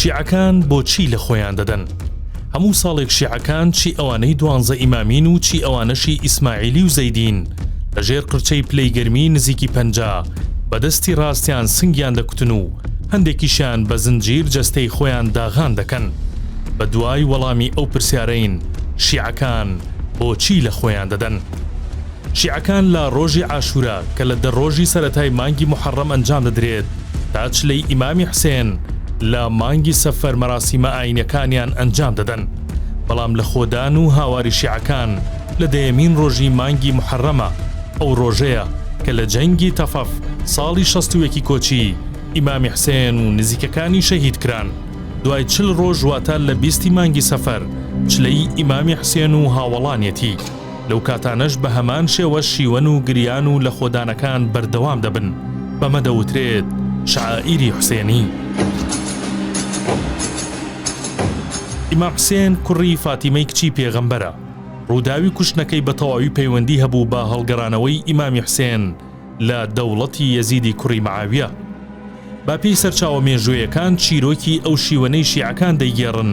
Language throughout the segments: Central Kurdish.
شیعەکان بۆچی لە خۆیان دەدەن هەموو ساڵێک شیعەکان چی ئەوانەی دوانزە ئیمامین و چی ئەوانەشی ئیسماعیلی و زەیدین لە ژێر قرچەی پلەی گەرمی نزیکی پ بەدەستی ڕاستیان سنگیان دەکوتن و هەندێکیشیان بە زنجیر جەستەی خۆیان داغان دەکەن بە دوای وەڵامی ئەو پرسیارەین شیعەکان بۆچی لە خۆیان دەدەن؟ شیعەکان لە ڕۆژی عاشورا کە لە دە ڕۆژی سەرەتای مانگی موحەڕەم ئەنجام دەدرێت تا چلەی ئیمامی حسێن لە مانگی سەفەر مەراسیمە ئاینیەکانیان ئەنجام دەدەن بەڵام لە خۆدان و هاواری شیعەکان لە دەیەمین ڕۆژی مانگی موحەڕەمە ئەو ڕۆژەیە کە لە جەنگی تەفەف ساڵی شەست و یەکی کۆچی ئیمامی حسێن و نزیکەکانی شەهید کران دوای چل ڕۆژ واتە لە بیستی مانگی سەفەر چلەی ئیمامی حسێن و هاوەڵانیەتی. لەو کاتانەش بە هەمان شێوە شیوەن و گریان و لەخۆدانەکان بەردەوام دەبن، بەمە دەوترێت شەعائیری حوسێنی. ئیمام حوسێن کوڕی فاتیمەی کچی پێغەمبەرە، ڕووداوی کوشتنەکەی بە تەواوی پەیوەندی هەبوو بە هەڵگەڕانەوەی ئیمامی حوسێن، لە دەوڵەتی یەزیدی کوڕی معاویە. با پێی سەرچاوە مێژوویەکان چیرۆکی ئەو شیوەنەی شیعەکان دەیگێڕن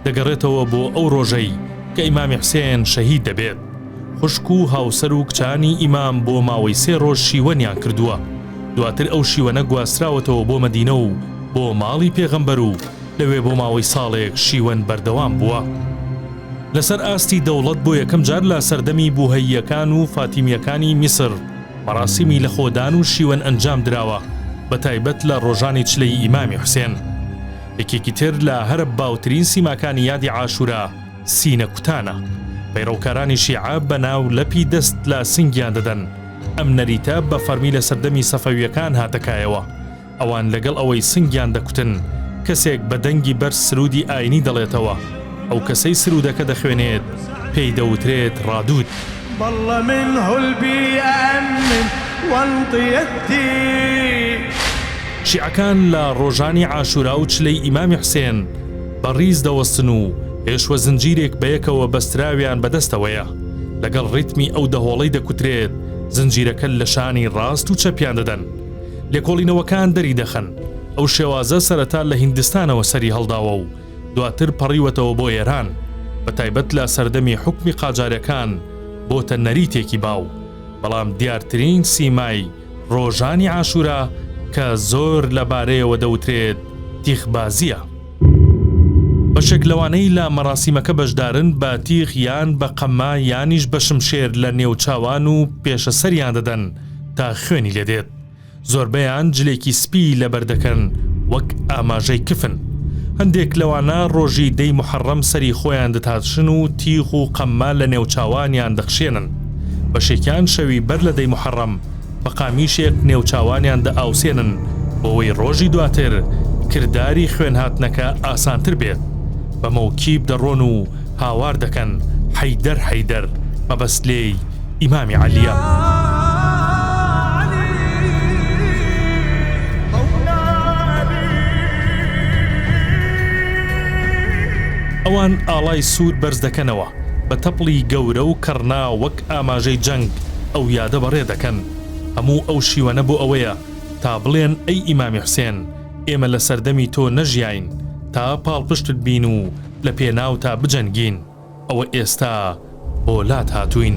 دەگەڕێتەوە بۆ ئەو ڕۆژەی کە ئیمامی حسێن شەهید دەبێت خوشک و هاوسەر و کچانی ئیمام بۆ ماوەی سێ ڕۆژ شیوەنیان کردووە دواتر ئەو شیوەنە گواستراوەتەوە بۆ مەدینە و بۆ ماڵی پێغەمبەر و لەوێ بۆ ماوەی ساڵێک شیوەن بەردەوام بووە. لەسەر ئاستی دەوڵەت بۆ یەکەم جار لە سەردەمی بوهەییەکان و فاتیمیەکانی میسر، مەراسیمی لەخۆدان و شیوەن ئەنجام دراوە بە تایبەت لە ڕۆژانی چلەی ئیمامی حوسێن یەکێکی تر لە هەرە باوترین سیماکانی یادی عاشورا سینە کوتانە پەیڕەوکارانی شیعە بە ناو لەپی دەست لە سنگیان دەدەن ئەم نەریتە بە فەرمی لە سەردەمی سەفەویەکان هاتەکایەوە ئەوان لەگەڵ ئەوەی سنگیان دەکوتن، کەسێک بە دەنگی بەرز سروودی ئایینی دەڵێتەوە، ئەو کەسەی سروودەکە دەخوێنێت پێی دەوترێت ڕادود. شیعەکان لە ڕۆژانی عاشورا و چلەی ئیمامی حوسێن بە ڕیز دەوەستن و ئێشوە زنجیرێک بەیەکەوە بەستراویان بە دەستەوەیە، لەگەڵ ڕیتمی ئەو دەهۆڵەی دەکوترێت زنجیرەکە لە شانی ڕاست و چەپیان دەدەن. لێکۆڵینەوەکان دەریدەخەن ئەو شێوازە سەرەتا لە هیندستانەوە سەری هەڵداوە و دواتر پەڕیوەتەوە بۆ ئێران، بە تایبەت لە سەردەمی حوکمی قاجاریەکان بۆتە نەریتێکی باو، بەڵام دیارترین سیمای ڕۆژانی عاشورا کە زۆر لە بارەیەوە دەوترێت تیخبازیە. بەشێک لەوانەی لە مەراسیمەکە بەشدارن بە تیغ یان بە قەمما یانیش بە شمشێر لە نێو چاوان و پێشە سەریان دەدەن تا خوێنی لێ دێت زۆربەیان جلێکی سپی لەبەر دەکەن وەک ئاماژەی کفن هەندێک لەوانە ڕۆژی دەی محەڕەم سەری خۆیان دەتاتشن و تیغ و قەمما لە نێو چاوانیان دەخشێنن بەشێکیان شەوی بەر لە دەی محەڕەم بە قامیشێک نێوچاوانیان دەئاوسێنن بۆوەی ڕۆژی دواتر کرداری خوێن هاتنەکە ئاسانتر بێت بە مەوکیب دەڕۆن و هاوار دەکەن حەیدەر حەیدەر مەبەست لێی ئیمامی عەلیە. ئەوان ئاڵای سوور بەرز دەکەنەوە بە تەپڵی گەورە و کڕنا وەک ئاماژەی جەنگ ئەو یادە بەڕێ دەکەن هەموو ئەو شیوەنە بۆ ئەوەیە تا بڵێن ئەی ئیمامی حسێن ئێمە لە سەردەمی تۆ نەژیاین تا پاڵپشتت بین و لە پێناوتا بجەنگین ئەوە ئێستا بۆ لات هاتووین.